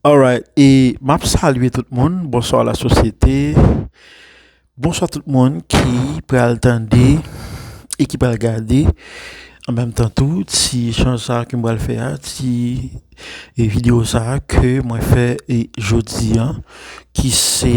Alright e map salye tout moun bonswa la sosyete bonswa tout moun ki pral tande e ki pral gade an menm tan tou ti echanj sa ke m pral fè a ti videyo sa ke mwen fè jodi an ki se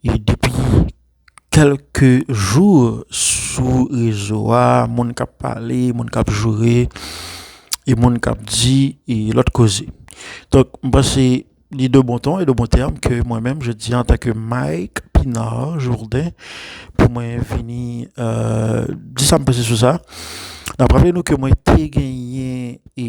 E depi kelke jou sou rezo a moun kap pale, moun kap joure, e moun kap di e lot koze. Donk m panse li de bon ton e de bon term ke mwen menm jodi an antanke Mike Pinard Jourdain pou mwen vini di sa m panse sou sa. Nap raple nou ke mwen te genyen e.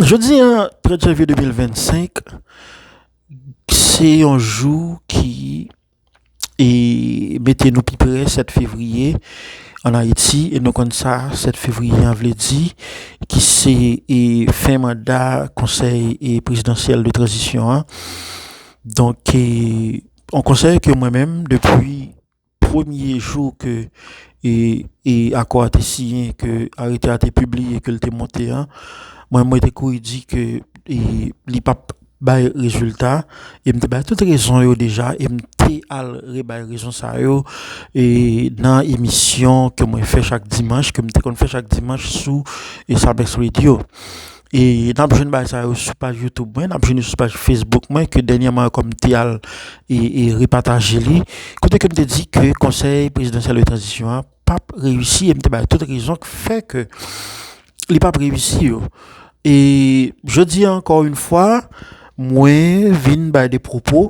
Jodi an, 30 janvye 2025, se yon jou ki mete nou pi pre 7 fevriye an Ayiti. E nou konn sa 7 fevriye an vle di, ki se fen manda konsèy prezidansyèl de tranzisyon an. Donk, yon konsèy ke mwen menm depi. Premye jou ke akò a te siyen, ke arete a te pibliye, ke l te monte an, mwen mwen te kouri di ke li pa p bay rezilta. E m te bay tout rezon yo deja e m te al rebay rezon sa yo nan emisyon ke mwen fè chak dimanch, ke m te konn fè chak dimanch sou Samex Radio. E nap jwenn bagay sa yo sou paj YouTube mwen, nap jwenn li sou paj Facebook mwen ke dènyèman ankò m te al e repataje li, kote ke m te di ke Konsèy Prezidansyèl de Tranzisyon an pap reyisi e m te bay tout rezon ki fè ke li pap reyisi yo. E jodi an ankò yon fwa mwen vin bay de pwopo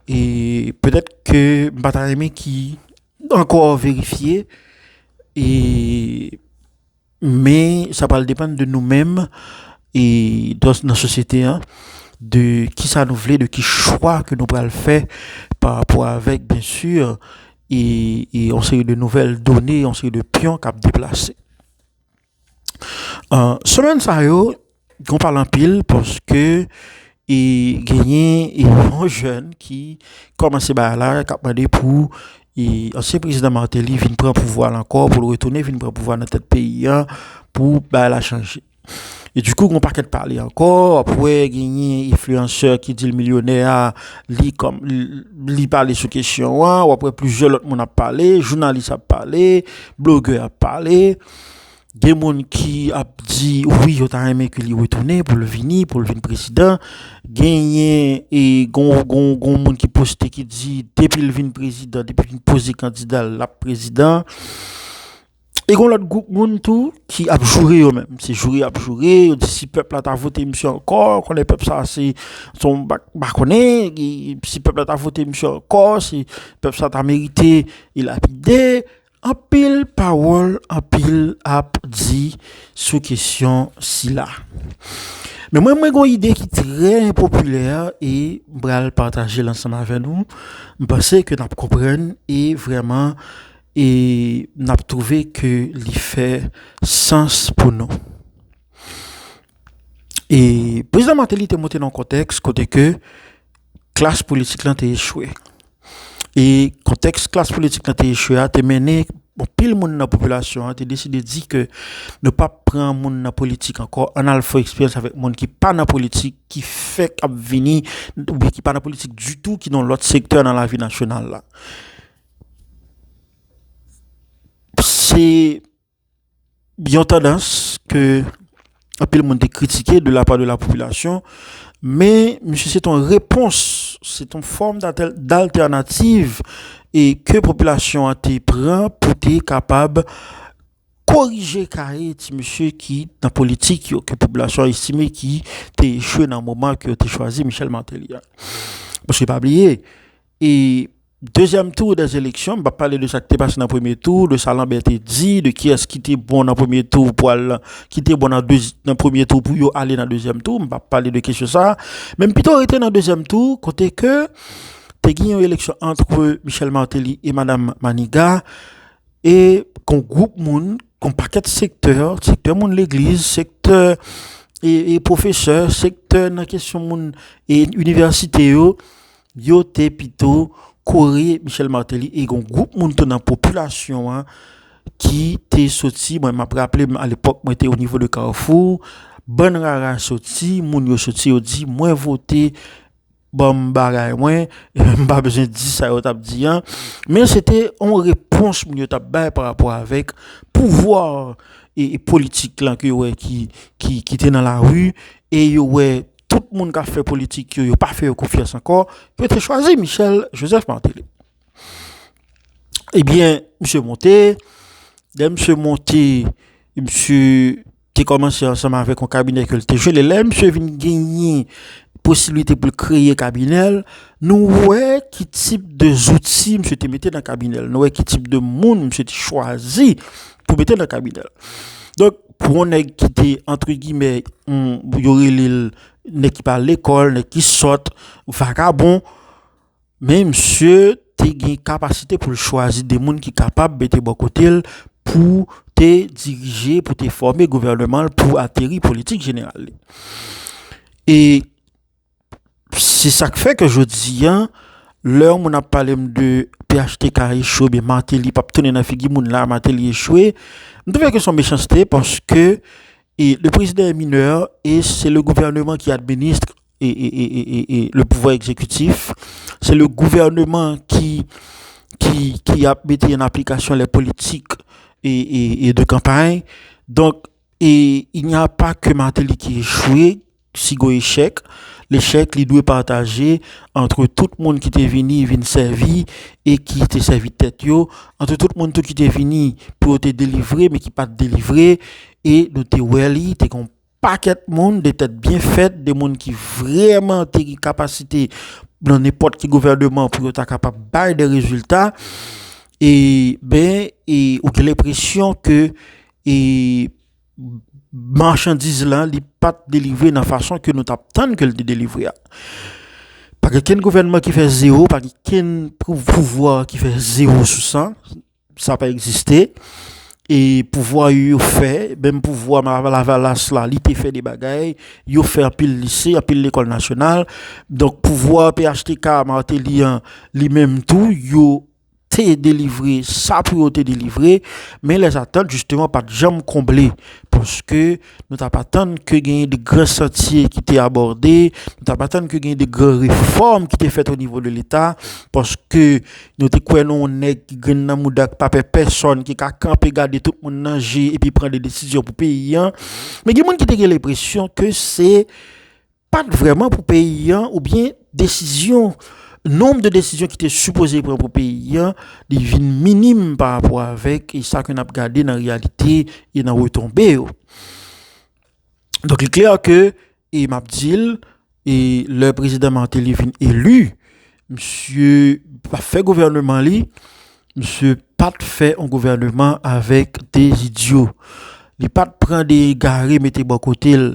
e petèt ke m pa ta renmen ki ankò verifye e. Men sa pral depann de nou menm e dos nan sosyete an de ki sa nou vle, de ki chwa ke nou pral fè pa rapò avèk byen si e yon seri de nouvèl done, yon seri de pyon kap deplase. An, semèn sa yo. Gwo pale anpil paske e genyen yon jèn ki kòmanse bagay la kap mande pou e ansyen prezidan Martelly vin pran pouvwa l ankò pou l retounen vin pran pouvwa nan tèt peyi a pou bagay la chanje e di kou gwo pakèt pale ankò wap wè genyen enfliyansè ki di l milyonè a li kòm li pale sou kesyon an wap wè plizyè lòt moun ap pale jounalis ap pale blogè ap pale. Gen moun ki ap di wi yo ta renmen ke li retounen pou l vini, pou l vin prezidan. Genyen e gon moun ki poste ki di depi l vin prezidan, depi vin poze kandida l ap prezidan. E gon lòt gwoup moun tou ki ap joure yo menm. Se joure y ap joure, yo di si pèp la ta vote misye ankò, konnen pèp sa se son pa konnen, si pèp la ta vote misye ankò, se pèp sa ta merite e lapide. Anpil pawòl anpil ap di sou kesyon sila. Men mwen mwen gon ide ki trè enpopilè e m pral pataje l ansanm avè nou. M panse ke n ap konprann e vrèman e n ap twouve ke li fè sans pou nou. E prezidan Mateli te monte nan yon kontèks kote ke klas politik lan te echwe. E kontèks klas politik lan te echwe a te mennen anpil moun nan popilasyon an te deside di ke nou pa p pran moun nan politik ankò, ann al fè eksperyans avèk moun ki pa nan politik, ki fèk ap vini oubyen ki pa nan politik ditou, ki nan lòt sektè nan lavi nasyonal la. Se. Yon tandans ke anpil moun te kritike de la pa de la popilasyon, men misye se te yon repons, se te yon fòm daltènativ e ke popilasyon an te pran pou te kapab korije kaye ti misye ki nan politik yo, ke popilasyon estime ki te echwe nan moman ke yo te chwazi Michel Martelly a. Paske pa bliye. E dezyèm tou dè eleksyon, m pa pale de sa ki te pase nan premye tou, de sa Lanbè te di, de kiyès ki te bon nan premye tou pou al nan, ki te bon nan premye tou pou yo ale nan dezyèm tou, m pa pale de kesyon sa a. Men m pito rete nan dezyèm tou kote ke te gen yon eleksyon antre Michel Martelly e Madam Maniga e kon gwoup moun, kon pakèt sektè, sektè moun legliz, sektè e pwofesè, sektè nan kesyon moun e inivèsite yo, Yo te pito kore Michel Martelly e yon gwoup moun tou nan popilasyon an ki te soti, mwen map raple m alepòk mwen te o nivo de Carrefour, bann rara soti, moun yo soti yo di mwen vote banm bagay mwen, m pa bezwen di sa yo tap di an, men se te yon repons moun yo tap bay parapò avèk pouvwa politik lan ke yo wè ki te nan lari e yo wè. tout moun kap fè politik yo, yo pa fè yo konfyans ankò, yo te chwazi Michel Joseph Martelly. Ebyen, eh misye monte, lè misye monte, misye te kòmanse ansanm avèk yon kabinè ke l te jwenn, e lè misye vin genyen posiblite pou l kreye kabinè l, nou wè ki tip de zouti misye te mete nan kabinè l, nou wè ki tip de moun misye te chwazi pou mete nan kabinè l. Donk, Pou yon nèg ki te antre gimè yo rele l nèg ki pa al lekòl, nèg ki sòt, vakabon, men msye te gen kapasite pou l chwazi de moun ki kapab mete bò kote l pou te dirije, pou te fòme gouvèneman l, pou ateri politik jeneral li. E. Se sak fè ke jodi a, lè yon moun ap pale m de phtk a echwe oubyen Martelly pap tounen nan figi moun la, Martelly echwe, m twouve ke son mechanste paske le prezidan è minè e se le gouvèneman ki administre le pouvwa egzekitif, se le gouvèneman ki ap mete an aplikasyon lè politik e de kanpay. Donk, e il n'y a pas ke Martelly ki echwe. Si gon echèk, lechèk li dwe pataje antre tout moun ki te vini vin sèvi e ki te sèvi tèt yo, antre tout moun tou ki te vini pou yo te delivre men ki pa t delivre. E nou te wè li te gen yon pakèt moun, de tèt byen fèt, de moun ki vrèman te gen kapasite nan nenpòt ki gouvèneman pou yo ta kapab bay de rezilta. E, ben, e ou gen lenpresyon ke e. Machandiz la li pat delivre nan fason ke nou t ap tann ke l te delivre a. Pa gen kenn gouvènman ki fè zewo, pa gen kenn pouvwa ki fè zewo sou sa. Sa pa egziste. E pouvwa yo yo fè, menm pouvwa Lavalas la li te fè de bagay. Yo fè anpil lise, anpil lekòl nasyonal. Donk pouvwa phtk Martelly an li menm tou yo. te delivre sa pou yo te delivre, men lèzatant jisteman pa t janm konble, paske nou t ap atann ke genyen de gran chantye ki te abòde, nou t ap atann ke genyen de gran refòm ki te fèt onivo de Leta, paske nou te kwè nan yon nèg ki grenn nan mouda, ki pa pè pèsòn, ki ka kanpe gade tout moun nan je epi pran de desizyon pou peyi an. Men gen moun ki te gen lenpresyon ke se Pat vreman pou peyi an ou byen desizyon nom de desizyon ki te sipoze pran pou peyi an li vin minim pa rapo avek e sa ke nap gade nan reyalite e nan retonbe yo. Donk li klè ke e map dil e lè prezidan Martelly vin elu Misye pa fè gouvèneman li, misye pat fè yon gouvèneman avèk 2 idyo. Li pat pran 2 egare mete bò kote l.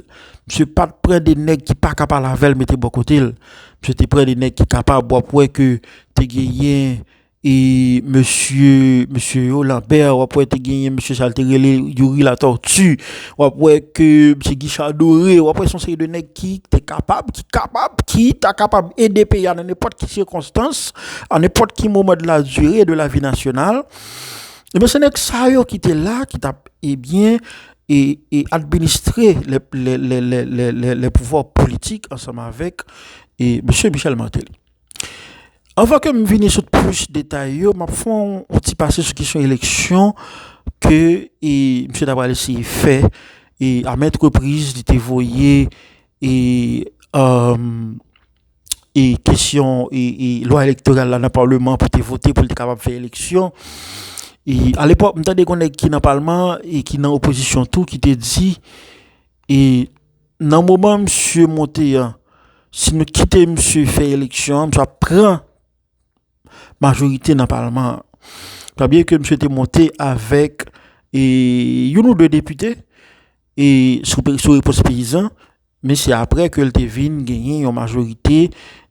Misye pat pran 2 nèg ki pa ka pale avè l mete bò kote l. Misye te pran 2 nèg ki kapab. W ap wè ke te genyen E mesye mesye yo Lambert wap wè te genyen mesye sa yo te rele Youri Latortue wap wè ke mesye Guichard Adoré wap wè son seri de nèg ki te kapab ki kapab ki ta kapab ede peyi a nan nenpòt ki sikonstans a nenpòt ki moman de la dire de la vi nasyonal ebyen se nèg sa yo ki te la ki tap ebyen e e administre lè lè lè lè lè lè lè pouvwa politik ansanm avèk e mesye Michel Martelly. Anvan ke m vini sou plis detay yo, m ap fè yon ti pase sou kesyon eleksyon ke misye ta pral eseye fè. E a mèt repriz li te voye kesyon lwa elektoral la nan palman pou te vote pou li te kapab fè eleksyon. E a lepòk m tande gen yon nèg ki nan palman e ki nan opozisyon tou ki te di Nan moman misye monte an, si nou kite misye fè eleksyon an, misye ap pran majorite nan palman an. Sa vle di ke misye te monte avèk youn ou 2 depite sou repons peyizan, men se aprè ke li te vin genyen yon majorite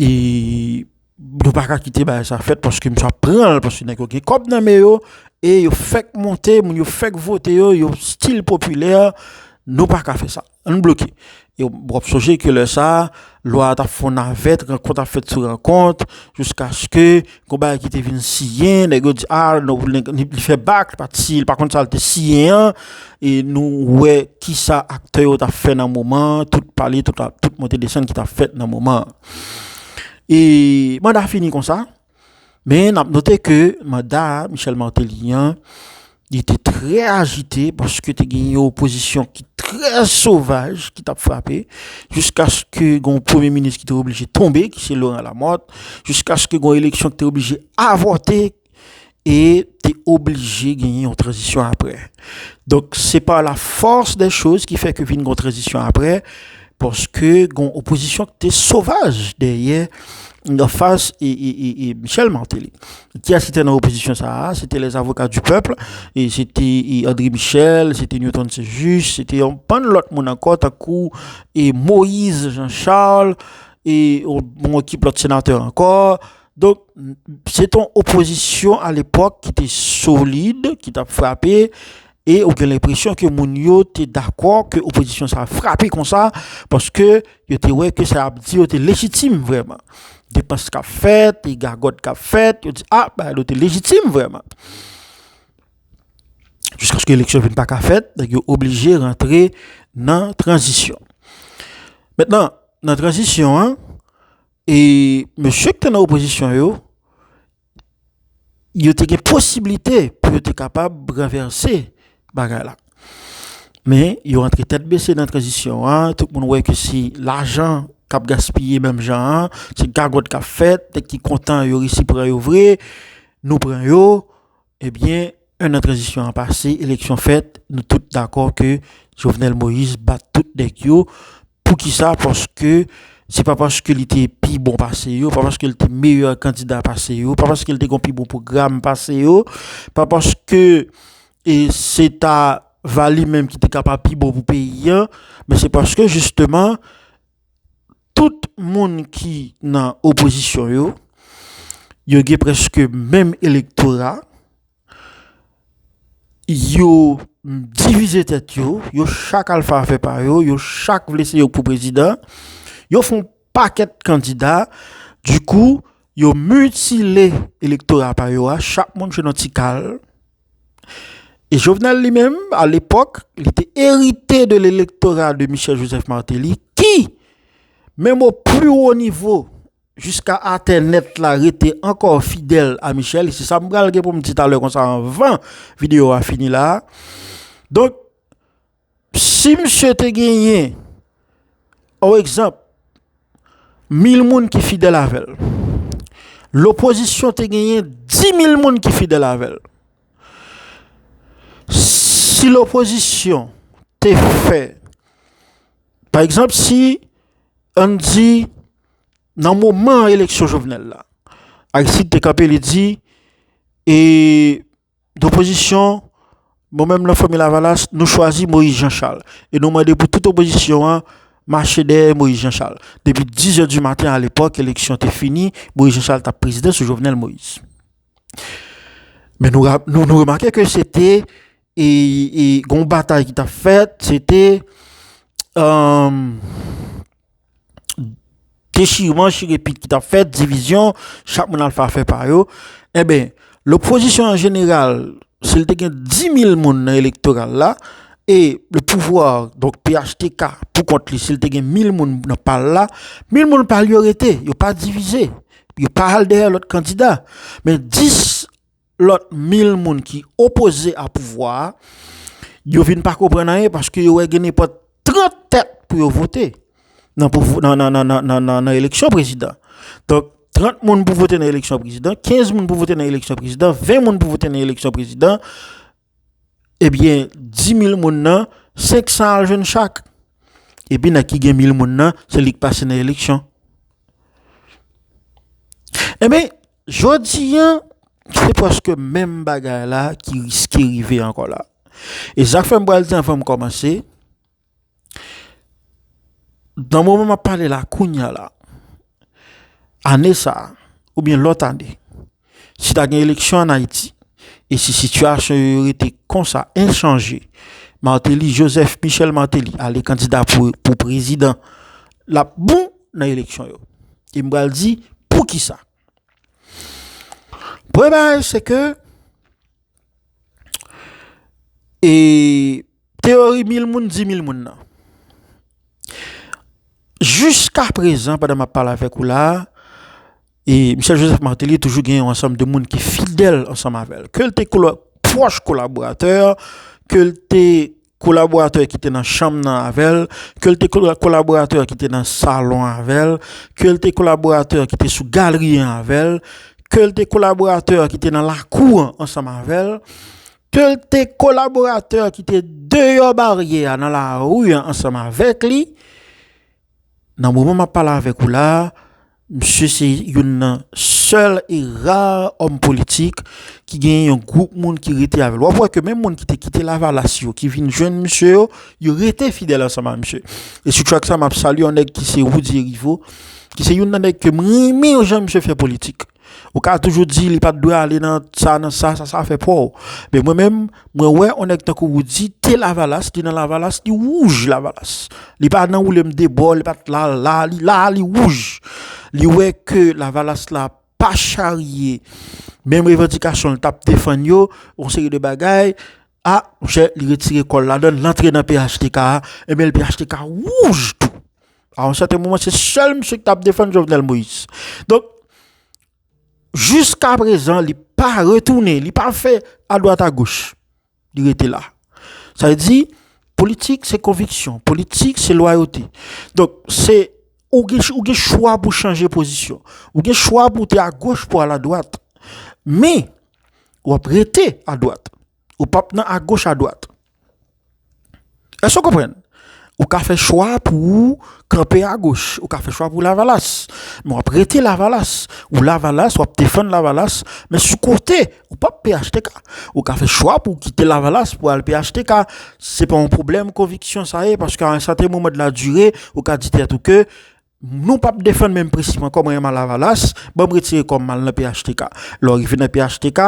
e nou pa ka kite bagay sa fèt paske misye ap pran l paske nèg yo gen kòb nan men yo e yo fèk monte moun yo fèk vote yo yo stil popilè nou pa ka fè sa ann bloke yo w ap sonje ke lè sa lwa a t ap fè yon navèt rankont ap fèt sou rankont jiskaske Gon bagay ki te vin siyen, nèg yo di a, li fè bak, li pa t siyen, li pa konn sa li te siyen an, e nou wè ki sa aktè yo t ap fè nan moman an, tout pale, tout monte desann ki t ap fèt nan moman an. E manda fini konsa, men n ap note ke manda Michel Martelly an, Li te trè ajite paske te gen yon opozisyon ki trè sovaj ki t ap frape jiskaske gen yon premye minis ki te oblije tonbe ki se Laurent Lamothe, jiskaske gen yon eleksyon ki te oblije avòte e te oblije genyen yon tranzisyon aprè. Donk, se pa la fòs dè choz ki fè ke vin gen yon tranzisyon aprè. Paske gon opozisyon ki te sovaj dèyè an fas e Michel Martelly. Ki yès ki te nan opozisyon sa a? Se te les avocats du peuple, se te André Michel, se te Newton St-Juste, se te yon bann lòt moun ankò tankou Moïse Jean Charles e yon ekip lòt senatè ankò. Donk, se te yon opozisyon alepòk ki te solid, ki t ap frape, e ou gen lenpresyon ke moun yo te dakò ke opozisyon sa a frape konsa, paske yo te wè ke sa y ap di yo te lejitim vrèman. Depans k ap fèt, gagòt k ap fèt, yo di, a, bagay la te lejitim vrèman. Jiskaske eleksyon vin pa ka fèt, nèg yo oblije rantre nan tranzisyon. Mentnan, nan tranzisyon an, E mesye ki te nan opozisyon yo, yo te gen posibilite pou yo te kapab ranvèse bagay la. Men, yo antre tèt bese nan tranzisyon an, tout moun wè ke se lajan k ap gaspiye menm jan an, se gagòt k ap fèt, nèg ki kontan yo resi pran yo vre, nou pran yo. Ebyen 1 an tranzisyon an pase, eleksyon fèt, nou tout dakò ke Jovenel Moïse bat tout nèg yo, poukisa paske se pa paske li te pi bon pase yo, pa paske li te meyè kandida pase yo, pa paske li te gon pi bon pwogram pase yo, pa paske se ta va li menm ki te kapab pi bon pou peyi an, men se paske jisteman Tout moun ki nan opozisyon yo, yo gen prèske menm elektora, yo divize tèt yo, yo chak al fè afè pa yo, yo chak vle se yo k pou prezidan, yo fè yon pakèt kandida, dikou yo mitile elektora pa yo a, chak moun jwenn yon ti kal. Jovenel li menm a lepòk li te erite de l'elektora de Michel Joseph Martelly ki menm o pli wo nivo jiska atè nèt la rete ankò fidèl a Michel e se sa m pral gen pou m di talè konsa anvan videyo a fini la a. Donk Si misye te genyen, o egzanp, mil moun ki fidèl avè l, lopozisyon te genyen dimil moun ki fidèl avè l, si lopozisyon te fè, pa egzanp, si an n di nan moman eleksyon Jovenel la, Aristide te kanpe li di e. D'opozisyon, mwen menm nan Fanmi Lavalas, nou chwazi Moyiz Janchal e nou mande pou tout opozisyon an mache dèyè Moyiz Janchal. Depi 10 zè di maten alepòk eleksyon te fini, Moyiz Janchal t ap prezidan sou Jovenel Moïse. Men nou nou remake ke se te yon batay ki t ap fèt, se te. dechirman, chire pit ki t ap fèt, divizyon, chak moun al fè afè pa yo, enben lopozisyon an jeneral si l te gen 10.000 moun nan elektoral la e lepouvwa donk phtk pou kont li si l te gen 1.000 moun nan pa l la, 1.000 moun pa l yo rete, yo pa divize, yo pa al dèyè lòt kandida men 10. lòt mil moun ki opoze a pouvwa a, yo vin pa konprann anyen paske yo wè gen nenpòt 30 tèt pou yo vote nan eleksyon prezidan. Donk, 30 moun pou vote nan eleksyon prezidan, 15 moun pou vote nan eleksyon prezidan, 20 moun pou vote nan eleksyon prezidan, Ebyen di mil moun nan 500 al jwenn chak. Epi nèg ki gen mil moun nan se li k pase nan eleksyon. Ebyen jodi an se prèske menm bagay la ki riske rive ankò la. E sa k fè m pral di anvan m kòmanse. Nan moman m ap pale la kounya la, ane sa a oubyen lòt ane, si ta gen eleksyon an Ayiti e si sitiyasyon yo rete konsa enchanje, Martelly Joseph Michel Martelly ale kandida pou prezidan, l ap bon nan eleksyon yo. E m pral di poukisa. Premye bagay se ke e. Teyori mil moun di mil moun nan. Jiska prezan pandan map pale avèk ou la a, Michel Joseph Martelly toujou gen yon ansanm de moun ki fidèl ansanm avè l. Ke l te pwòch kolaboratè, ke l te kolaboratè ki te nan chanm nan avè l, ke l te kolaboratè ki te nan salon avè l, ke l te kolaboratè ki te sou galri an avè l, ke l te kolaboratè ki te nan lakou an ansanm avè l, Tèlte kolaboratè ki te deyò baryè a nan lari an ansanm avèk li. Nan moman map pale avèk ou la a, misye se youn nan sèl e rar òm politik ki gen yon gwoup moun ki rete avèl. Wap wè ke menm moun ki te kite lavalas yo, ki vin jwenn misye yo, yo rete fidèl ansanm a misye. E sou track sa map salye yon nèg ki se Roody Heriveau, ki se youn nan nèg kem renmen jan misye fè politik. Ou ka toujou di li pat dwe ale nan sa nan sa, sa sa afè paw. Men mwen menm, mwen wè on nèg tankou Roody te lavalas, li nan lavalas, li wouj lavalas. Li pa nan woule m debò, li pat la la, li la a li wouj. Li wè ke lavalas la pa charye menm revandikasyon l tap defann yo, on seri de bagay, A monchè li retire kòl la dan lantre nan phtk a ebyen phtk wouj tou a yon sèten moman se sèl misye ki tap defann Jovenel Moïse donk jiska prezan li pa retounen li pa fè a dwat a goch li rete la sa vle di politik se konviksyon politik se lwayote donk se ou gen ou gen chwa pou chanje pozisyon ou gen chwa pou te a goch pou al a dwat men wap rete a dwat ou pap nan a goch a dwat èske ou konprann ou ka fè chwa pou ou kanpe a goch ou ka fè chwa pou lavalas men wap rete lavalas ou lavalas wap defann lavalas men sou kote ou pap phtk ou ka fè chwa pou kite lavalas pou al phtk se pa yon pwoblèm konviksyon sa ye paske a yon sèten moman de la dire ou ka di tèt ou ke Nou pap defann menm prensip ankò mwen renman lavalas banm retire kòm mal nan phtk lè w rive nan phtk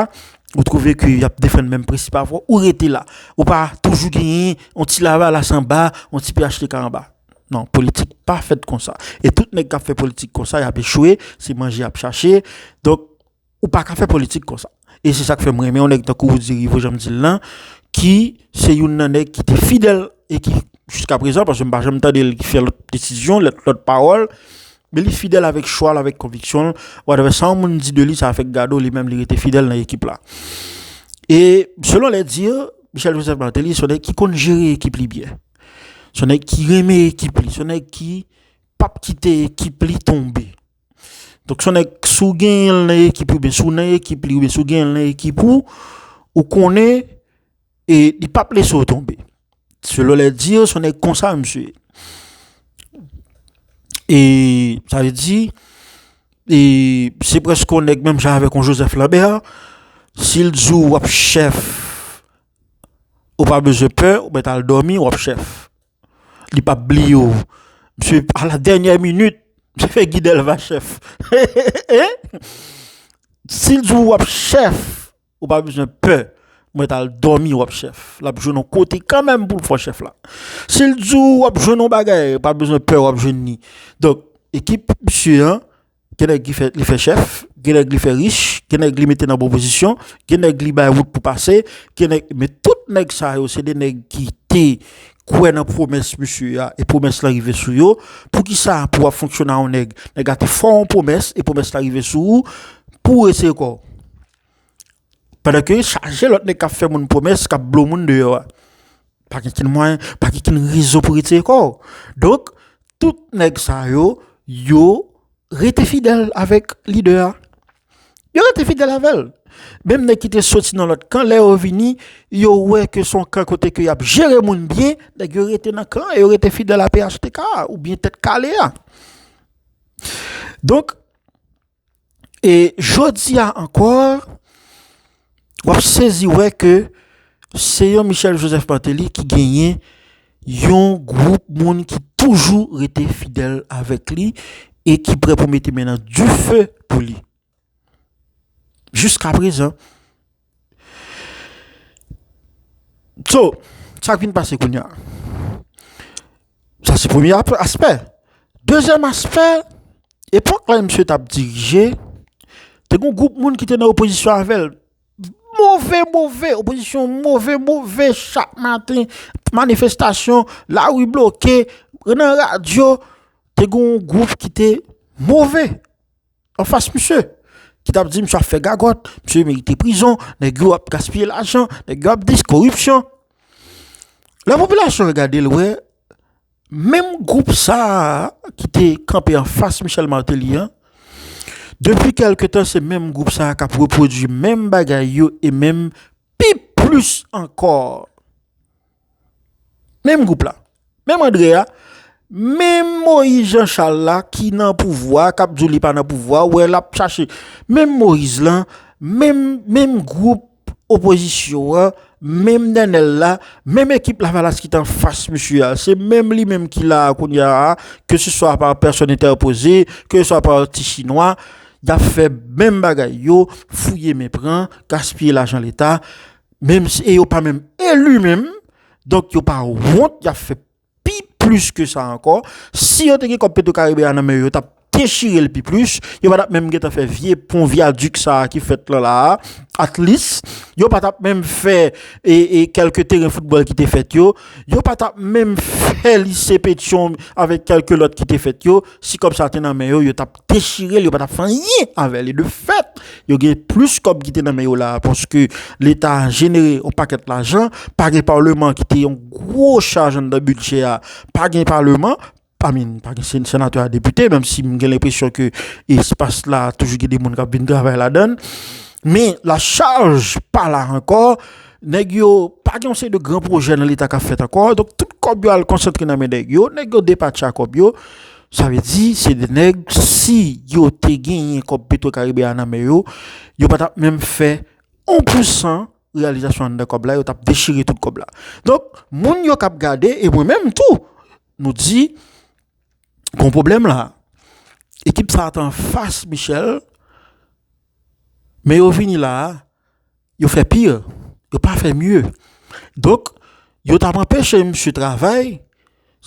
ou twouve ke yap defann menm prensip avè w ou rete la ou pa toujou genyen yon ti lavalas anba yon ti phtk anba nan politik pa fèt konsa e tout nèg kap fè politik konsa yap echwe se manje yap chache donk Ou pa ka fè politik konsa. E se sak fè m renmen yon nèg tankou Roody Rivo jan m di l lan, ki se youn nan nèg ki te fidèl e ki jiskaprezan, paske m pa janm tande l fè lòt desizyon, lòt pawòl, men li fidèl avèk chwa l, avèk konviksyon l. Whatever sa yon moun di de li, sa fèk gade w, li menm li rete fidèl nan ekip la. E selon les dires, Michel Joseph Martelly se yon nèg ki konn jere ekip li byen. Se yon nèg ki renmen ekip li, se yon nèg ki pap kite ekip li tonbe. Donk son nèg si w genyen l nan ekip ou oubyen si w nan ekip li oubyen si w genyen l nan ekip ou, ou konnen e li pap lese w tonbe. Selon les dires son nèg konsa misye ye. E sa vle di e se prèske yon nèg menm jan avèk yon Joseph Lambert, si l di w w ap chèf ou pa bezwen pè, ou mèt al dòmi w ap chèf. Li pap bliye w Misye a la dènyè minit Misye fè Guy Delva chèf Si l di w w ap chèf Ou pa bezwen pè Mwen t al dòmi w ap chèf L ap jwenn yon kote kanmèm pou l fè w chèf la Si l di w w ap jwenn yon bagay Ou pa bezwen pè w ap jwenn li Donk ekip misye an Gen nèg ki fè li fè chèf, gen nèg li fè rich, gen nèg li mete nan bon pozisyon, gen nèg li bay wout pou pase, gen nèg men tout nèg sa yo se de nèg ki te kwè nan pwomès misye a e pwomès la rive sou yo. Poukisa pou w ap fonksyone a yon nèg, nèg la te fè w yon pwomès e pwomès la rive sou ou pou w eseye kò w? Pandan ke yo chaje lòt nèg k ap fè moun pwomès, k ap blo moun deyò a. Pa gen okenn mwayen, pa gen okenn rezon pou retire kò ou. Donk, tout nèg sa yo, yo rete fidèl avèk lidè a. Yo rete fidèl avè l. Menm nèg ki te soti nan lòt kan, lè yo vini, yo wè ke se yon kan kote ke y ap jere moun byen, nèg yo rete nan kan an, yo rete fidèl a phtk a oubyen Tèt Kale a. Donk. E jodi a ankò, w ap sezi wè ke se yon Michel Joseph Martelly ki genyen yon gwoup moun ki toujou rete fidèl avèk li e ki prè pou mete men nan dife pou li. Jiskaprezan. So, sa k vin pase kounye a? Sa se premye aspè. Dezyèm aspè, epòk lè misye t ap dirije, te gen yon gwoup moun ki te nan opozisyon avè l. Move move, opozisyon move move, chak maten manifestasyon, lari bloke, nan radyo, te gen yon gwoup ki te move. anfas misye, ki tap di misye ap fè gagòt, misye merite prizon, nèg yo ap gaspiye lajan, nèg yo ap dis koripsyon. La popilasyon regade l wè, menm gwoup sa a ki te kanpe anfas Michel Martelly an, depi kèlke tan se menm gwoup sa a k ap repwodui menm bagay yo e menm pi plis ankò. Menm gwoup la, menm André a, menm Moïse Jean Charles la ki nan pouvwa a, k ap di w li pa nan pouvwa a, ou wè l ap chache, menm Moïse lan, menm, menm gwoup opozisyon an, menm Nenel la, menm ekip Lavalas ki t anfas misye a, se menm li menm ki la a kounye a, ke se swa pa pèsòn entèpoze, ke se swa pa ti chinwa, y ap fè menm bagay yo, fouye men pran, gaspiye lajan leta. Menm e yo pa menm elu menm, donk yo pa wont yap fè pi plis ke sa ankò, si yo te gen kòb petro karibe a nan men yo yo tap dechirel pi plis, yo pa tap menm gentan fè vye pon vyadik sa ki fèt lan la a, atlis yo pa tap menm fè e kèlke teren foutbòl ki te fèt yo, yo pa tap menm fè lise petyon avèk kèlke lòt ki te fèt yo, si kòb sa te nan men yo yo tap. dechirel yo pa tap fè anyen avè li de fèt yo gen plis kòb ki te nan men yo la paske leta jenere yon pakèt lajan pa gen paleman ki te yon gwo chaj anndan bidjè a pa gen paleman pa min pa gen se senatè a depite menm si m gen lenpresyon ke espas la toujou gen de moun kap vin travay ladann men la chaj pa la ankò nèg yo pa gen yon seri de gran pwojè nan leta kap fèt ankò donk tout kòb yo al konsantre nan men nèg yo nèg yo depatcha kòb yo Sa vle di se 2 nèg si yo te genyen kòb petro karibe a nan men yo, yo pa tap menm fè 1 pou 100 reyalizasyon anndan kòb la yo tap dechire tout kòb la. Donk moun yo kap gade e mwen menm tou nou di gon pwoblèm la. Ekip sa a t anfas Michel. Men yo vini la a, yo fè pire, yo pa fè mye. Donk, yo t ap anpeche misye travay,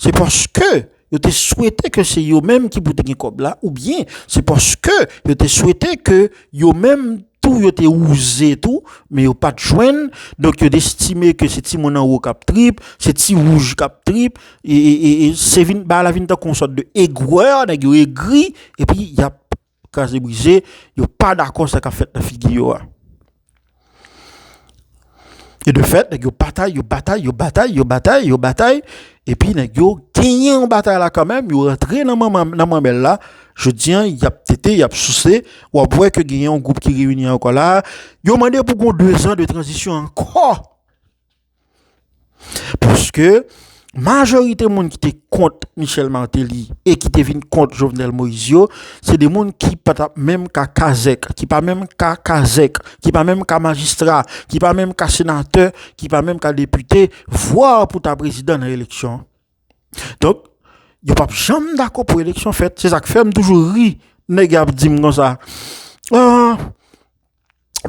se paske yo te swete ke se yo menm ki pou te gen kòb la oubyen se paske yo te swete ke yo menm tou yo te wouze tou men yo pa t jwenn. Donk, yo estime ke se timoun anwo k ap trip, se ti wouj k ap trip. E, e, e, e, se vin, bagay la vin tankou yon sòt de egwè, nèg yo egri, epi y ap kraze brize, yo pa dakò sa kap fèt nan figi yo a. E de fèt, nèg yo batay, yo batay, yo batay, yo batay, yo batay, epi nèg yo genyen yon batay la kanmenm, yo rantre nan manmèl la, jodi an, y ap tete, y ap souse, w ap wè ke genyen yon gwoup ki reyini ankò la a, yo mande pou gon 2 zan de tranzisyon ankò! Paske majorite moun ki te kont Michel Martelly e ki te vin kont Jovenel Moïse yo, se de moun ki pa ta menm ka kazèk, ki pa menm ka kazèk, ki pa menm ka majistra, ki pa menm ka senatè, ki pa menm ka depite, vwa pou ta prezidan nan eleksyon. Donk, yo pap janm dako pou eleksyon fèt. Se sak fèm toujou ri, nèg ap di m konsa.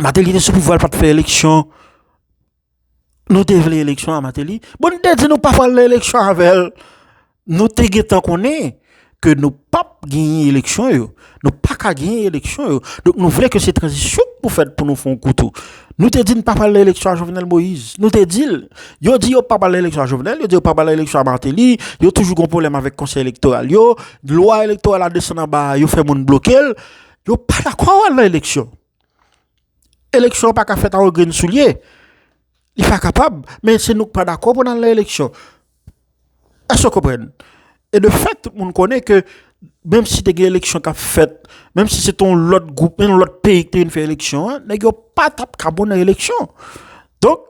Martelly te sou pouvwa l pat fè eleksyon. Nou te vle eleksyon a Mateli, bon nou te di nou pa pral nan eleksyon avèl. Nou te gentan konnen ke nou pap genyen eleksyon yo. Nou pa ka genyen eleksyon yo. Donk nou vle ke se tranzisyon pou fèt pou nou fè yon kou tou. Nou te di nou pa pral nan eleksyon a Jovenel Moïse. Nou te di l. Yo di yo pa pral nan eleksyon a Jovenel, yo di yo pa pral nan eleksyon a Mateli, yo toujou gon pwoblèm avèk konsèy elektoral yo, lwa elektoral la desann anba, yo fè moun bloke l. Yo pa dakò al nan eleksyon. Eleksyon an pa ka fèt a yon grenn soulye. Li pa kapab. Men se nou k pa dakò pou n al nan eleksyon. Èske w konprann? E de fèt, tout moun konnen ke menm si te gen eleksyon k ap fèt, menm si se te yon lòt gwoup, yon lòt peyi ki te vin fè eleksyon an, nèg yo pa t ap ka bon nan eleksyon. Donk,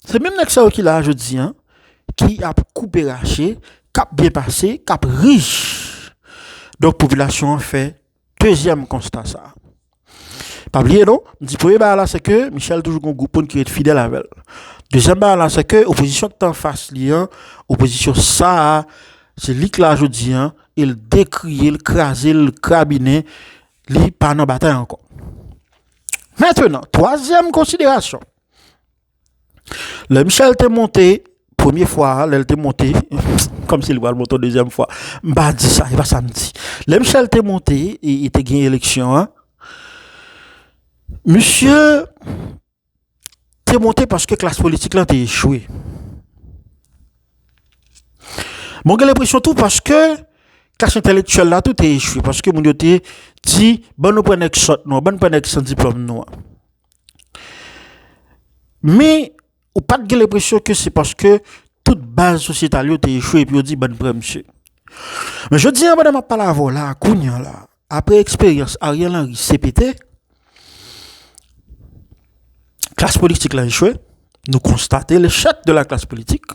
se menm nèg sa yo ki la a jodi an, ki ap koupe rache, k ap byen pase, k ap rich. Donk, popilasyon an fè Dezyèm konsta sa. Pa bliye non, m di premye bagay la se ke Michel toujou gen yon gwoup moun ki ret fidèl avè l. Dezyèm bagay la se ke opozisyon ki te anfas li an, opozisyon sa a, se li ki la jodi an e l dekriye l, kraze l, krabinen, li pa nan batay ankò. Mentenan, twazyèm konsiderasyon. Lè Michel te monte premye fwa a, lè l te monte, kòm si li pral monte yon dezyèm fwa, m pa di sa, e pa sa m di. Lè Michel te monte, e te gen eleksyon an, misye te monte paske klas politik lan te echwe. Mwen gen lenpresyon tou paske klas entelektyèl la tou te echwe, paske moun yo te di, bann nou pran nèg sòt nou an, bann nou pran nèg san diplòm nou an. Men, ou pa t gen lenpresyon ke se paske tout baz sosyetal yo te echwe epi yo di bann pran misye. Men jodi a pandan m ap pale avè w la a, kounye an la a, apre eksperyans Ariel Henry, CPT, klas politik la echwe, nou konstate lechèk de la klas politik.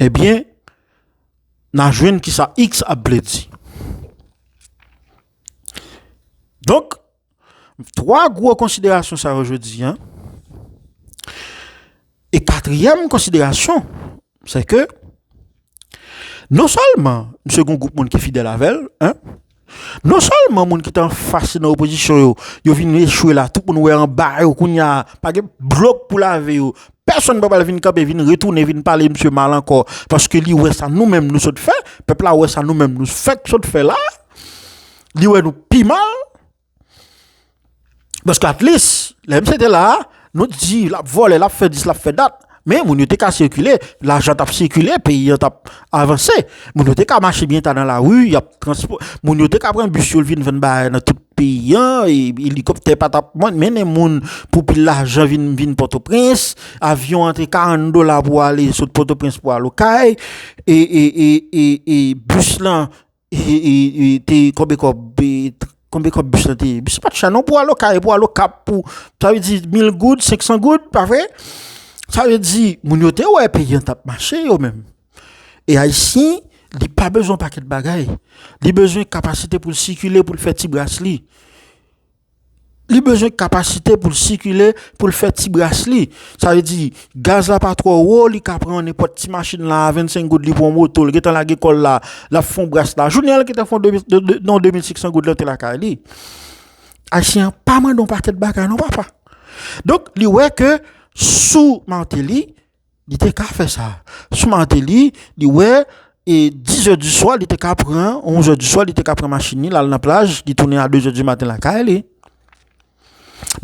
Ebyen, na jwenn ki sa x ap vle di. Donk, 3 gwo konsiderasyon sa yo jodi an. E katriyèm konsiderasyon, se ke, non sèlman, misye gen yon gwoup moun ki fidèl avè l, 1. Non sèlman moun ki te anfas li nan opozisyon yo, yo vin echwe la, tout moun wè anba yo kounya, pa gen dlo pou lave yo, pèsonn pa pral vin kanpe vin retounen vin pale misye mal ankò paske li wè sa nou menm nou sot fè, pèp la wè sa nou menm nou fèk sot fè la, li wè nou pi mal. Paske atlis, lè misye te la, nou t di lap vòlè, lap fè dis, lap fè dat, men moun yo te ka sikile, lajan tap sikile, peyi an tap avanse, moun yo te ka mache byen ta nan lari, moun yo te ka pran bis yo vin vann bagay nan tout peyi an, elikoptè pa tap mennen moun pou pil lajan vin pòtoprens, avyon an te 40 dola pou ale sot pòtoprens pou al okay, e bis lan. te konbe kob konbe kob bus lan te ye bus la pat chè non pou al okay e pou al okap pou sa vle di mil goud senksan goud pa vre sa vle di moun yo te wè peyi an tap mache yo menm e ayisyen li pa bezwen pakèt bagay li bezwen kapasite pou l sikile pou l fè ti bras li Li bezwen kapasite pou l sikile, pou l fè ti bras li. Sa vle di, gaz la pa twò wo, li ka pran nenpòt ti machin la a 25 goud, li pran moto, li gentan lage kò l la, l ap fè yon bras la. Jounen an li gentan fè yon 2500 goud lante lakay li. Ayisyen an pa mande yon pakèt bagay non papa. Donk li wè ke sou Martelly, Li te ka fè sa. Sou Martelly, li wè e 10 zè di swa li te ka pran, 11 zè di swa li te ka pran machin li, l al nan plaj, li tounen a 2 zè di maten lakay li.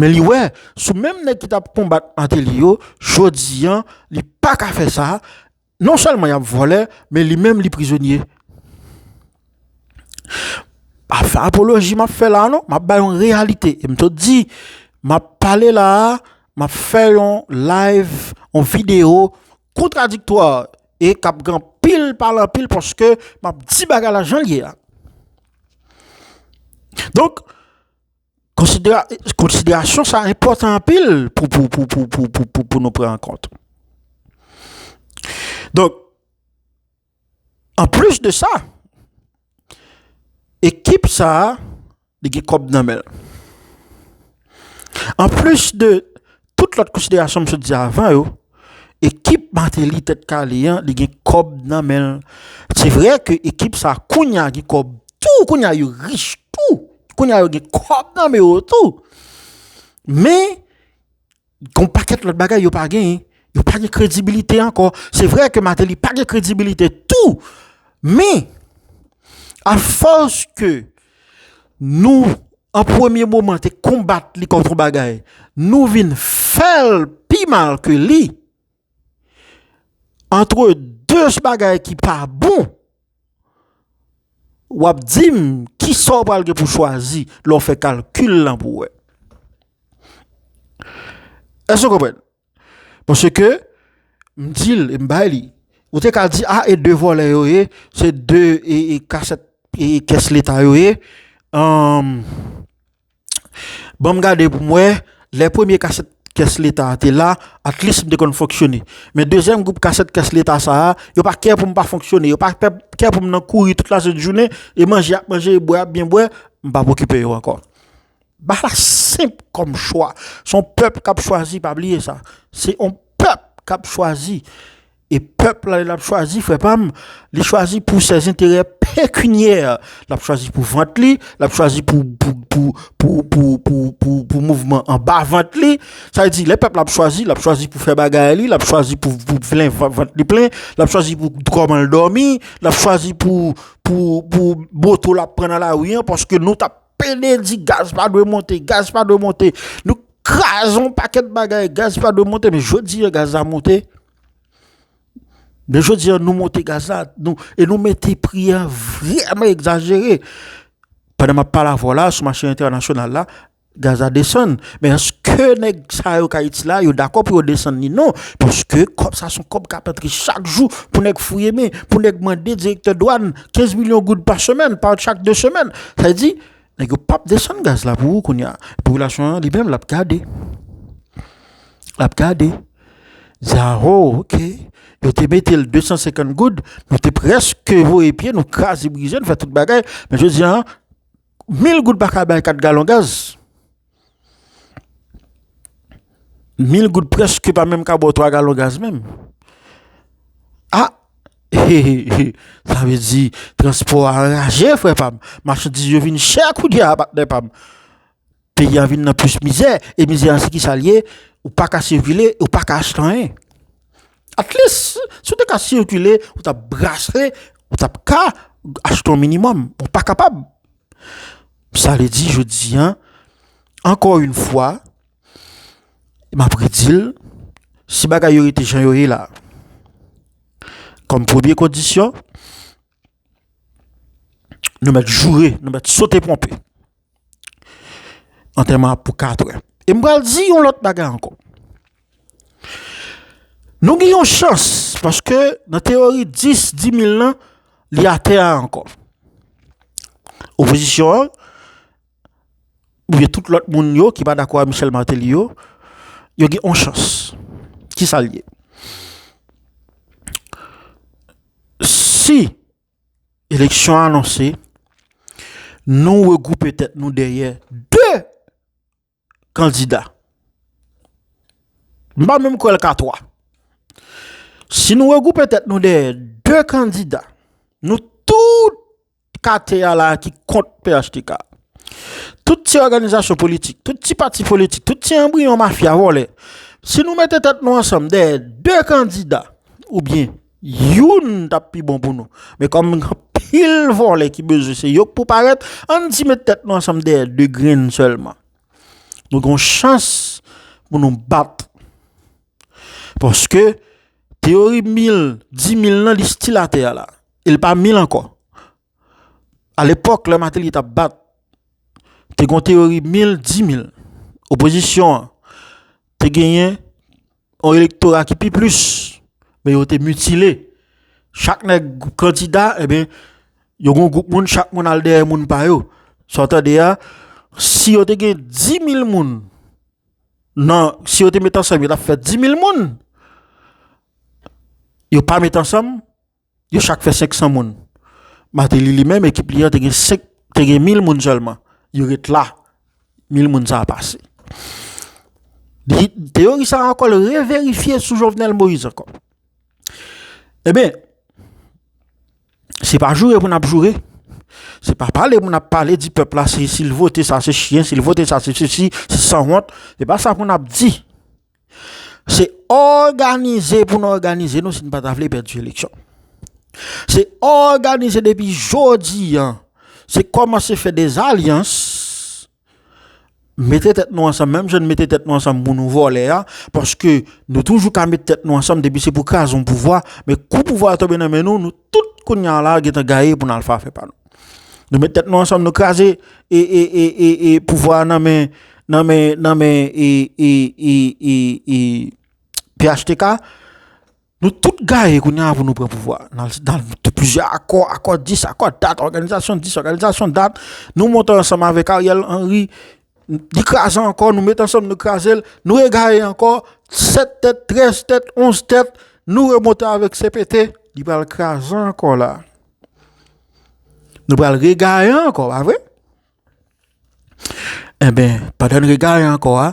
Men li wè, sou menm nèg ki t ap konbat Martelly yo, jodi an, li pa ka fè sa, non sèlman y ap vòlè, men li menm li prizonye. pa fè apoloji m ap fè la a non, m ap bay yon reyalite e m sot di. M ap pale la a, m ap fè yon layv, yon videyo kontradiktwa e k ap gen anpil pale anpil paske m ap di bagay la jan l ye a. Donk, konsiderasyon sa a enpòtan anpil pou nou pran an kont. Donk. Anplis de sa, ekip sa a li gen kòb nan men l. Anplis de tout lòt konsiderasyon m sot di avan yo, ekip Martelly Tèt Kale an li gen kòb nan men l. Se vre ke ekip sa a kounye a gen kòb tou, kounye a yo rich tou, kounye a yo gen kòb nan men yo tou men, Gen yon pakèt lòt bagay yo pa genyen. Yo pa gen kredibilite ankò. Se vre ke Mateli pa gen kredibilite tou. Men, a fòs ke nou an premye moman te konbat li kont yon bagay, nou vin fè l pi mal ke li. Antre de bagay ki pa bon, w ap di m ki sa w pral gen pou w chwazi lè w fè kalkil lan pou w wè. Èske w konprann? Paske m di l e m bay li. Ou te ka di a e de vòlè yo ye, se de kasèt kès leta yo ye. Banm gade pou m wè, lè premye kasèt kès leta a te la, atlis m te konn fonksyone. Men dezyèm gwoup kasèt kès leta sa a, yo pa kè pou m pa fonksyone, yo pa kè pou m nan kouri tout lasent jounen, e manje y ap manje, e bwè y ap byen bwè, m pa p okipe yo ankò. Ba la senp kòm chwa. Se yon pèp k ap chwazi, pa bliye sa. Se yon pèp k ap chwazi. E pèp la li lap chwazi frè pam, li chwazi pou ses enterè pekinyè, lap chwazi pou vant li, lap chwazi pou pou mouvman anba vant li, sa vle di lè pèp la ap chwazi, lap chwazi pou fè bagay li, lap chwazi pou plen vant li plen, lap chwazi pou kòman l dòmi, lap chwazi pou pou moto lap pran nan lari an paske nou tap pede di gaz pa dwe monte, gaz pa dwe monte, nou kraze yon pakèt bagay gaz pa dwe monte men jodi a gaz la monte. Men jodi an nou monte gaz la e nou mete pri a vreman egzajere. Pandan m ap pale avè w la, sou mache entènasyonal la, gaz la desann. Men èske nèg sa yo k Ayiti la, yo dakò pou yo desann li? Non. Paske kòb sa son kòb k ap antre chak jou pou nèg fouye men, pou nèg mande direktè dwàn 15 milyon goud pa semèn, pa chak 2 semèn. Sa vle di, Nèg yo pap desann gaz la pou ou kounya. Popilasyon an li menm l ap gade. L ap gade. Di a ho, ok, yo te mete l 250 goud, nou te prèske voye pye nou, kraze brize, nou fè tout bagay, men jodi a, 1000 goud pa ka bay 4 galon gaz. Mil goud preske pa menm ka ba w 3 galon gaz menm. A! Sa vle di transpò a anraje frè pa m. Machandiz yo vin chè kounye a patnè pa m. Peyi a vin nan plis mizè. E mizè an se ki sa l ye? Ou pa ka sikile, ou pa ka achte anyen. Atlis, si w te ka sikile, ou t ap brase, ou t ap ka achte yon minimòm. Ou pa kapab. Sa vle di jodi an, ankò yon fwa, m ap redi l, si bagay yo rete jan yo ye la, kòm premye kondisyon, nou mèt joure, nou mèt sote ponpe, antèman an pou katrè. E m pral di yon lòt bagay ankò. Nou gen yon chans paske nan teyori 10 dimil lan li atè a ankò. Opozisyon an oubyen tout lòt moun yo ki pa dakò ak Michel Martelly yo, yo gen yon chans. Ki sa l ye? Si eleksyon an anonse, nou regwoupe tèt nou dèyè 2 kandida. M pa menm kwè l ka 3. Si nou regwoupe tèt nou dèyè 2 kandida, nou tout kate a la ki kont phtk, tout ti òganizasyon politik, tout ti pati politik, tout ti anbriyon mafya vòlè, si nou mete tèt nou ansanm dèyè 2 kandida oubyen, Youn tap pi bon pou nou. Men kòm gen anpil vòlè ki bezwen se yok pou parèt, ann ti met tèt nou ansanm dèyè 2 grenn sèlman. Nou gon chans pou nou bat. Paske teyori mil, di mil nan li stil atè a la. E l pa mil ankò. A lepòk lè Mateli tap bat, te gon teyori mil, di mil. Opozisyon an te genyen. Yon elektora ki pi plis, men yo te mitile. Chak nèg kandida, eben, yo gon gwoup moun, chak moun al dèyè moun pa yo. Sa w tande a, si yo te gen 10.000 moun, nan, si yo te met ansanm yo t ap fè 10.000 moun, yo pa met ansanm, Yo chak fè 500 moun. Mateli li menm ekip li an te gen 5, te gen 1000 moun sèlman. Yo ret la. 1000 moun sa a pase. Di, teyori sa a ankò l reverifye sou Jovenel Moïse ankò. E ben, se pa joure pou n ap joure. Se pa pale pou n ap pale di pèp la se si l vote sa se chyen, si l vote sa se sesi, se sanwont. Se pa sa pou n ap di. Se òganize pou n òganize nou si n pa ta vle pèdi eleksyon. Se òganize depi jodi an, se kòmanse fè de zalyans, mete tèt nou ansanm menm jan nou mete tèt nou ansanm pou nou vòlè a, paske nou toujou ka mete tèt nou ansanm depi se pou kraze yon pouvwa, men kou pouvwa a tonbe nan men nou, nou Tout kounya la gentan gaye pou n al fè afè pa nou. Nou met tèt nou ansanm nou kraze e pouvwa a nan men nan men nan men e phtk nou tout gaye kounya pou nou pran pouvwa a nan nan plizyè akò, akò dis, akò dat, òganizasyon dis, òganizasyon dat nou monte ansanm avèk Ariel Henry Li kraze ankò, nou met ansanm nou kraze l, nou egare ankò, 7 tèt, 13 tèt, 11 tèt, nou remonte avèk CPT, li pral kraze ankò la. Nou pral regare ankò, pa vre? Eh ben, pandan nou regare ankò a,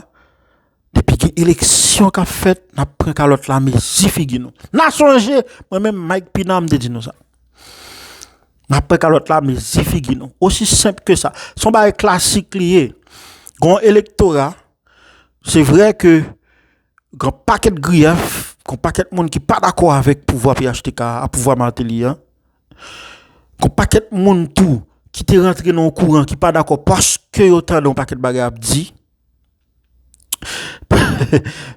Depi gen eleksyon k ap fèt, n ap pran kalòt la mezi figi nou. N a sonje, mwen menm Mike Pina m te di nou sa. N ap pran kalòt la mezi figi nou. Osi senp ke sa. Se yon bagay klasik li ye. Gen yon elektora, se vre ke gen yon pakèt griyèf, gen yon pakèt moun ki pa dakò avèk pouvwa phtk a, pouvwa Martelly a. Gen yon pakèt moun tou ki te rantre nan yon kouran ki pa dakò paske yo tande yon pakèt bagay ap di.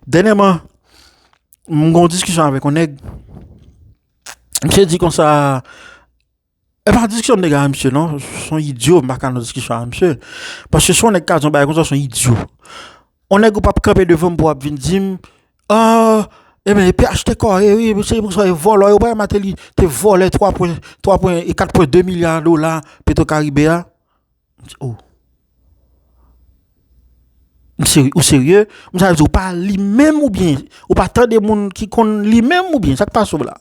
Dènyèman, m gen yon diskisyon avèk yon nèg, misye di konsa, e pa diskisyon m te gen avèk misye non, se yon idyo m pa ka nan diskisyon avèk misye, paske si yon nèg ka di yon bagay konsa se yon idyo. Yon nèg ou p ap kanpe devan m pou w ap vin di m, an, e men, pnh te kore wi, se pou sa yo vòlò yo, ou pa wè Mateli te vòlè 3 pwen, 3 pwen, 4 pwen 2 milya dola petwokaribe a? Ou serye? Sa vle di ou pa li menm oubyen ou pa tande moun ki konn li menm oubyen sa k pase w la?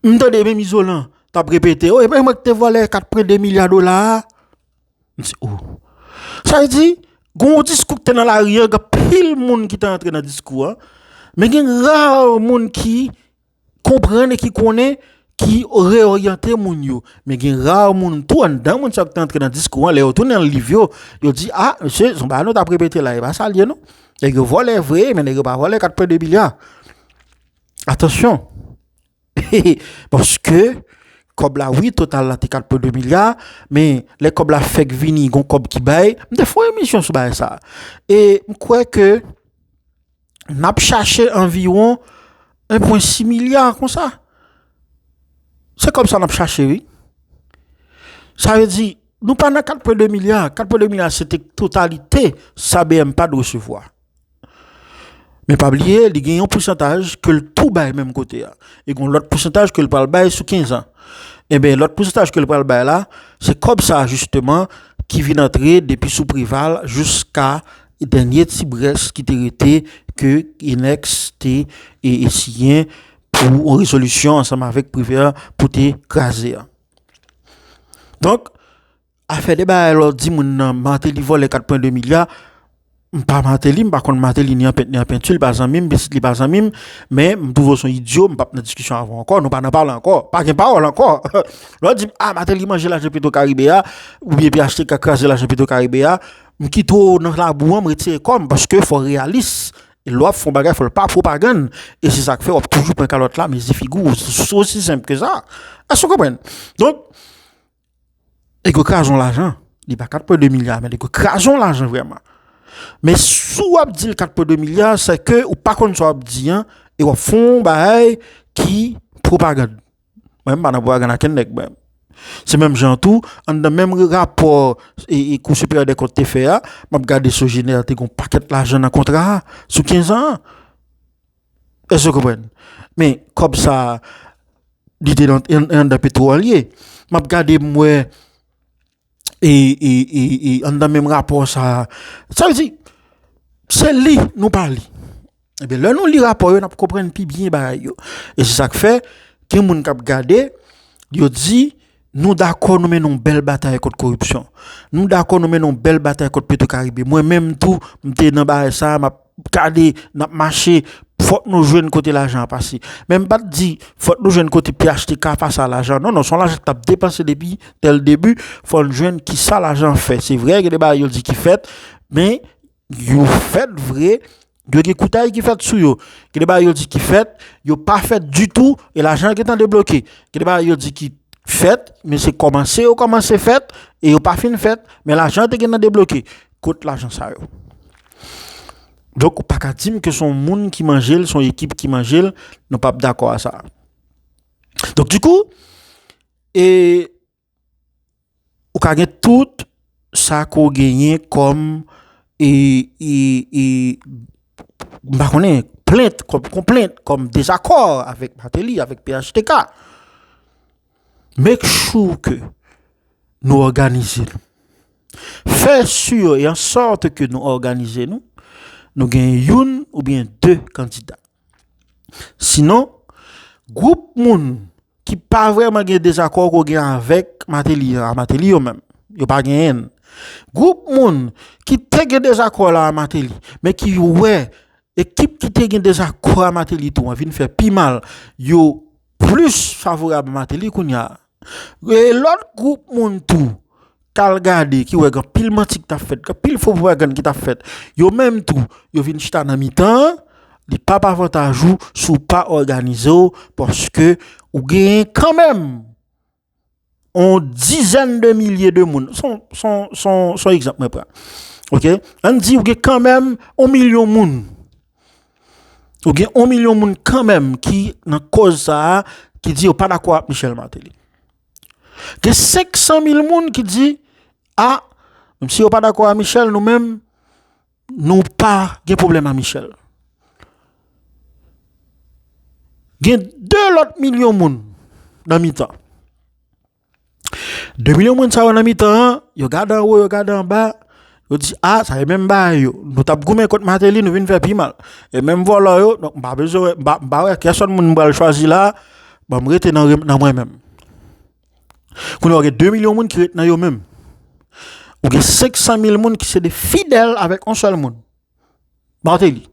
M tande menm Izolan t ap repete o e pa mwen k te vòlè 82 milya dola a. M se o! Sa vle di gen yon diskou ki te nan lari an, gen anpil moun ki te antre nan diskou an men gen ra moun ki konprann e ki konnen, ki reyoryante moun yo. Men gen rar moun tou anndan moun sa yo ki te antre nan diskou an, lè yo tounen nan liv yo, yo di, a, mesye, se yon bagay nou t ap repete la, e pa sa l ye non. Nèg yo vòlè vre, men nèg yo pa vòlè 4 pwen 2 milya. Atansyon! Paske, kòb la, wi, total la te 4 pwen 2 milya, men lè kòb la fèk vini, gon kòb ki bay, m te fè yon emisyon sou bagay sa. E m kwè ke. n ap chache anviwon 1,6 milya konsa. Se kòb sa n ap chache wi. Sa vle di, nou pa nan 4,2 milya. 4,2 milya se te totalite sa BMPAD resevwa. Men pa bliye, li gen yon pousantaj ke l tou bay menm kote a. E gen yon lòt pousantaj ke l pral bay sou 15 an. Enben, lòt pousantaj ke l pral bay la, se kòb sa jisteman ki vin antre depi sou Preval jiska. Dènye ti brèch ki te rete ke Enex te siyen pou yon rezolisyon ansanm avèk Privert pou te kraze a. Donk, afè de bagay la w di moun nan Martelly vòlè 4 pwen 2 milya, m pa Martelly, m pa konn Martelly ni an pent ni an pentu, li pa zanmi m, pitit li pa zanmi m, men m twouve w s on idyo, m p ap nan diskisyon avè w ankò, nou pa nan pale ankò, pa gen pawòl ankò. Lè w di m, a Martelly manje lajan Petro Caribe a, oubyen phtk kraze lajan Petro Caribe a, M kite w nan labou an m retire kò m paske fò w reyalis e lè w ap fè yon bagay fò l pa pwopagann e se sa k fè w ap toujou pran kalòt la mezi figi w se osi senp ke sa èske w konprann donk nèg yo kraze yon lajan li pa 4 pwen 2 milya men nèg yo kraze yon lajan vrèman men si w ap di l 4 pwen 2 milya se ke ou pa konn sa w ap di an e w ap fè yon bagay ki pwopagann. Mwen pa nan pwa gana ken nèk mwen. Se menm jan tou, an dan menm rapò e, e kou siperyè dè kont te fè a, map gade sou jenè te gon pakèt lajan nan kontra a, sou 15 an an. Èske ou konprann? Men, kòb sa a, li te nan, an dan petro a li ye. Map gade mwen. e e e e anndan menm rapò sa a sa vle di se li nou pa li ebyen lè nou li rapò yo nap konprann pi byen bagay yo e se sak fè gen moun kap gade yo di nou dakò nou mennen yon bèl batay kont koripsyon nou dakò nou mennen yon bèl batay kont petro karibe mwen menm tou m te nan bagay sa a map gade nap mache fòk nou jwenn kote lajan an pase men m pat di fòk nou jwenn kote phtk pase a lajan non non son lajan ki tap depanse depi dè l debi fò n jwenn kisa lajan an fè se vre gen de bagay yo di ki fèt men yo fèt vre yo gen koutay ki fèt sou yo gen de bagay yo di ki fèt yo pa fèt ditou e lajan an gentan debloke gen de bagay yo di ki fèt men se kòmanse yo kòmanse fèt e yo pa fin fèt men lajan an te gentan debloke kot lajan sa yo. Donk ou pa ka di m ke son moun ki manje l, son ekip ki manje l, nou pap dakò a sa. Donk di kou, e ou ka gen tout sa ke w genyen kòm e, e, e, m pa konnen, plent, kòm konplent, kòm dezakò avèk Martelly, avèk phtk. Make sure ke nou òganize nou. Fè sure e an sòt ke nou òganize nou, nou gen youn oubyen de kandida. Sinon, gwoup moun ki pa vrèman gen dezakò ke w gen avèk Mateli a, Mateli yo menm, yo pa genyen. Gwoup moun ki te gen dezakò la a Mateli, men ki wè ekip ki te gen dezakò a Mateli tou an vin fè pi mal, yo. plis favorab a Martelly kounya e lòt gwoup moun tou k al gade ki wè gen anpil manti ki t ap fèt, gen anpil fo pwopagann ki t ap fèt, yo menm tou yo vin chita nan mitan an, li p ap avantaj ou si w pa òganize w paske ou genyen kanmenm. on dizèn de milye de moun, son egzanp mwen pran, ok, an di ou gen kanmèm on milyon moun, ou gen on milyon moun kanmèm ki nan kòz sa a, ki di yo pa dakò ak Michel Martelly. Gen 500 mil moun ki di, a, menm si yo pa dakò ak Michel nou menm, Nou pa gen pwoblèm a Michel. Gen 2 lòt milyon moun nan mitan. 2 milyon moun sa yo nan mitan an, yo gade anwo, yo gade anba, yo di a, sa e menm bagay yo. Nou t ap goumen kont Mateli, nou vin fè pi mal. E menm vòlò yo, donk m pa bezwen, m pa wè kèsòn moun m pral chwazi la a, banm rete nan mwen menm. Kounye a ou gen 2 milyon moun ki ret nan yo menm. Ou gen 500 mil moun ki se de fidèl avèk on sèl moun. Martelly.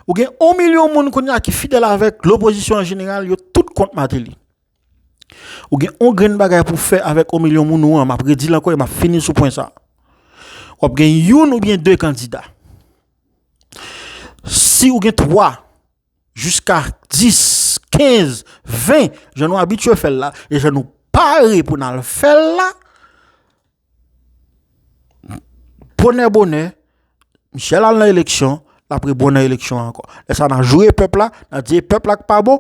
Ou gen 1 milyon moun kounye a ki fidèl avèk lopozisyon an jeneral yo tout kont Martelly. Ou gen on grenn bagay pou fè avèk 1 milyon moun ou an, m ap redi l ankò e m ap fini sou pwen sa. W ap gen youn oubyen 2 kandida. Si ou gen 3. jiska 10, 15, 20 jan nou abitye fè l la e jan nou pare pou n al fè l la, bonè bonè, Michel al nan eleksyon, l ap repon nan eleksyon an ankò. Lè sa a n a joure pèp la, n a di e pèp la k pa bon,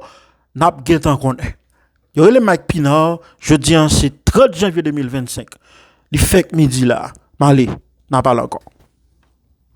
n ap gen tan konnen. Yo rele m Mike Pinard, jodi an se 30 janvye 2025, li fèk midi la a, m ale, n a pale ankò.